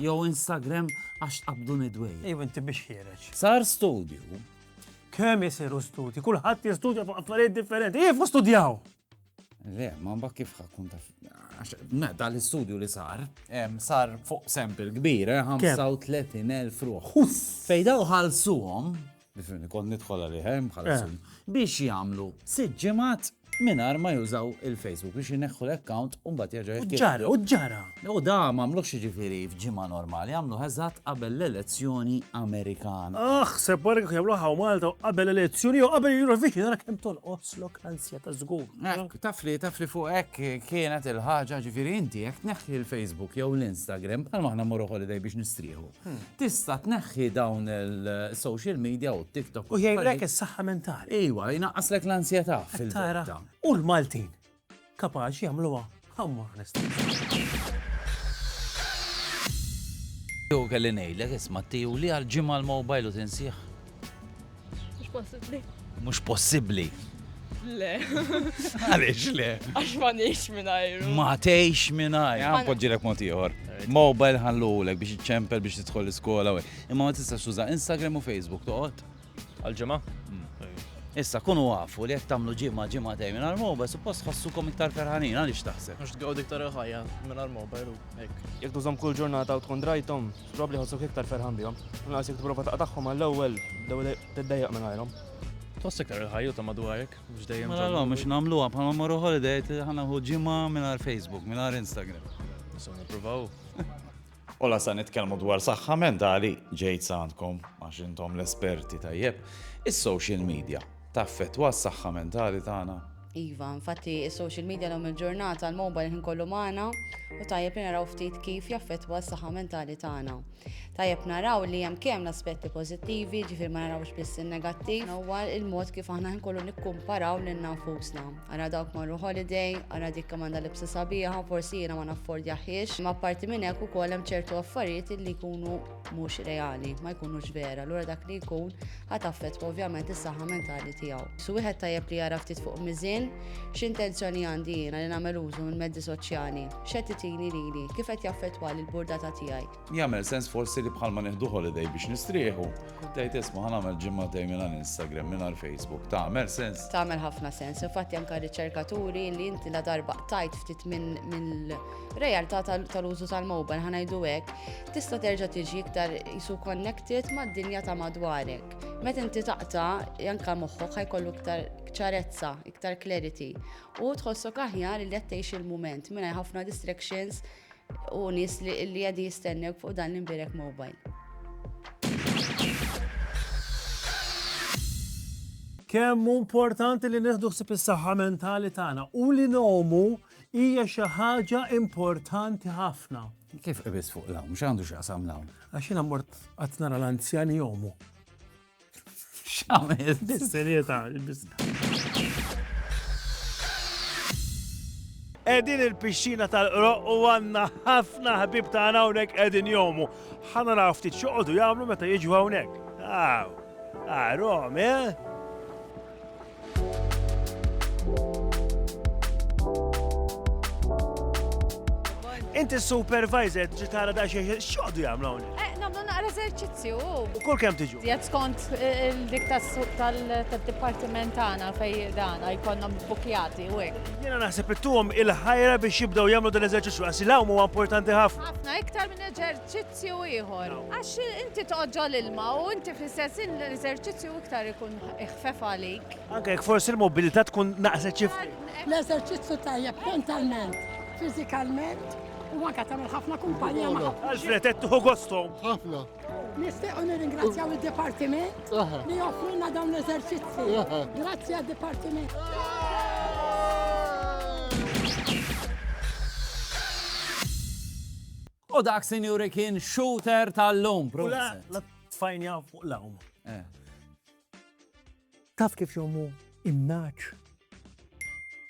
Jew Instagram għax tqabduni dwejja. Ejw inti biex ħiereġ. Sar studju. Kemm isiru studji, kulħadd jistudja fuq affarijiet differenti. Ejf studjaw! Le, ma mbak kif ħakun taf. Ma da l-istudju li sar, sar fuq sample kbir, 35,000 eh, ruħ. Fejda uħalsuhom Nifhimni, kont nidħol għalih, eh, bħala sum. Biex jagħmlu sitt ġimgħat mingħajr ma jużaw il-Facebook biex ineħħu l-account u mbagħad jerġa' U ġara, u ġara. U da m'għamlux jiġifieri f'ġimgħa normali, għamlu eżatt qabel l-elezzjoni Amerikana. Aħ, se barek jagħmlu ħaw Malta qabel elezzjoni u qabel Eurovision ara kemm tolqoslok ansja ta' żgur. Taf li taf li fuq hekk kienet il-ħaġa ġifieri inti jekk tneħħi l-Facebook jew l-Instagram bħal maħna morru holiday biex nistrieħu. Tista' tneħħi dawn il-social media u TikTok. U jgħidlek is-saħħa mentali. Iwa, jnaqqaslek l-ansjetà fil-tara. U l-Maltin kapaċi jagħmluha ħammur Jew kelli ngħidlek isma' tiju li għal ġimgħa l-mobile u tinsieħ. Mhux possibbli. Mhux possibbli. Le. Għaliex le? Għax ma nix minajru. Ma tgħix minajr. Għan podġilek mod ieħor. Mobile ħallulek biex iċċempel biex tidħol l-iskola. Imma ma tistax tuża Instagram u Facebook toqgħod. Għal-ġimgħa? Mm. Issa kunu għafu li jekk tagħmlu ġimgħa ġimgħa tej minn għal-mobile suppost ħossukom iktar ferħanin għaliex taħseb. Għax tgawd iktar ħajja minn għal-mobile u hekk. Jekk tużhom kull ġurnata u tkun drajtom, Probabbli jħossok iktar ferħan bihom. Inqas jekk tipprova taqtagħhom għall-ewwel, l-ewwel tiddejjaq mingħajrhom. Tħoss iktar il-ħajju ta' madwarek biex dejjem. Mela l biex nagħmluha bħalma marru holiday ħana hu ġimgħa mingħajr Facebook, mingħajr Instagram. Nistgħu nippruvaw. U la sa nitkellmu dwar saħħa mentali ġejt sandkom għax intom l-esperti tajjeb. Is-social media Taffettwa s-saħħa mentali tagħna? Iva, infatti is-social media l-lum il-ġurnata l-mobile ħin kollu magħna u tajjeb li naraw ftit kif jaffettwa s-saħħa mentali tagħna. Tajjeb naraw li hemm kemm l-aspetti pożittivi, ġifier ma narawx biss in-negattiv, huwa il-mod kif aħna ħin kollu nikkumparaw lil nafusna. Ara dawk marru holiday, ara dik kemm għandha libsa sabiħa, forsi jiena ma naffordjahiex, ma parti minn hekk ukoll hemm ċertu affarijiet li jkunu mhux reali, ma jkunux vera, allura dak li jkun ħa taffettwa ovvjament is-saħħa mentali tiegħu. Su wieħed tajjeb li jara ftit fuq miżin x'intenzjoni għandi jiena li nagħmel użu minn mezzi soċjali, x'qed itini lili, kif qed jaffettwa lil burdata tiegħi. Jagħmel sens forsi li bħalma nieħdu holiday biex nistrieħu, tgħid isma' ħa nagħmel ġimgħatej mingħajr Instagram, mingħajr Facebook, tagħmel sens. Tagħmel ħafna sens, infatti anke riċerkaturi li inti la darba tajt ftit minn realtà tal-użu tal-mobile ħanajdu hekk, Tista' terġa' tiġi iktar isu connected mad-dinja ta' madwarek. Meta inti taqta' anke moħħok ħajkollu iktar ċarezza, iktar clarity u tħossok aħjar li qed tgħix il-mument mingħajr ħafna distractions u nies li qegħdi jistennew fuq dan l-imbirek mobile. Kemm importanti li nieħdu ħsieb is-saħħa mentali tagħna u li nomu hija xi ħaġa importanti ħafna. Kif qibis fuq l-hawn? X'għandu x'jaqsam l-hawn? Għax jiena mort qatt nara l-anzjani jomu. X'għamel? Bis-serjetà, bis Edin il-pixxina tal-qroq u għanna ħafna ħbib ta' hawnhekk edin jomu. Ħana raw ftit xoqodu jagħmlu meta jiġu hawnhekk. Aw, għarom, eh? Inti supervisor tiġi tara da xejn x'għodu jagħmlu hawnhekk. Eh, nagħmlu naqra eżerċizzju. U kull kemm tiġu? Jgħid skont eh, il-dik tas-suq tal-dipartiment tagħna fej dana jkollhom bukjati u hekk. Jiena naħseb ittuhom il-ħajra biex jibdew jagħmlu dan l-eżerċizzju għax il-hawn huwa importanti ħafna. Ħafna iktar minn eżerċizzju eżerċizzju ieħor. Għax inti tqoġġo' l-ilma u inti fl-istess ħin l-eżerċizzju iktar ikun ħfef għalik. Anke jekk forsi l-mobilità tkun naqset xi ftit. L-eżerċizzju tajjeb mentalment, fiżikalment u anke tagħmel ħafna kumpanija ma' ħafna. Alfred qed tieħu gosthom. Ħafna. Nistiequ nirringrazzjaw id-dipartiment li joffrulna dawn l-eżerċizzji. Grazzi għad-dipartiment. U dak sinjuri kien shooter tal-lum, proset. Tfajnja fuq l-għum. Taf kif jommu imnaċ?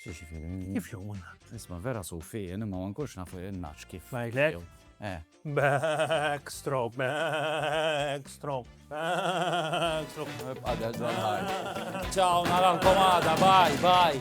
Xie xie fil Kif jommu naċ? Isma vera sufi, jeni ma wankurx nafu imnaċ kif. Najlek? Eh. Backstroke, backstroke, backstroke. Għadda ġwanħar. Ciao, narankomada, bye, bye.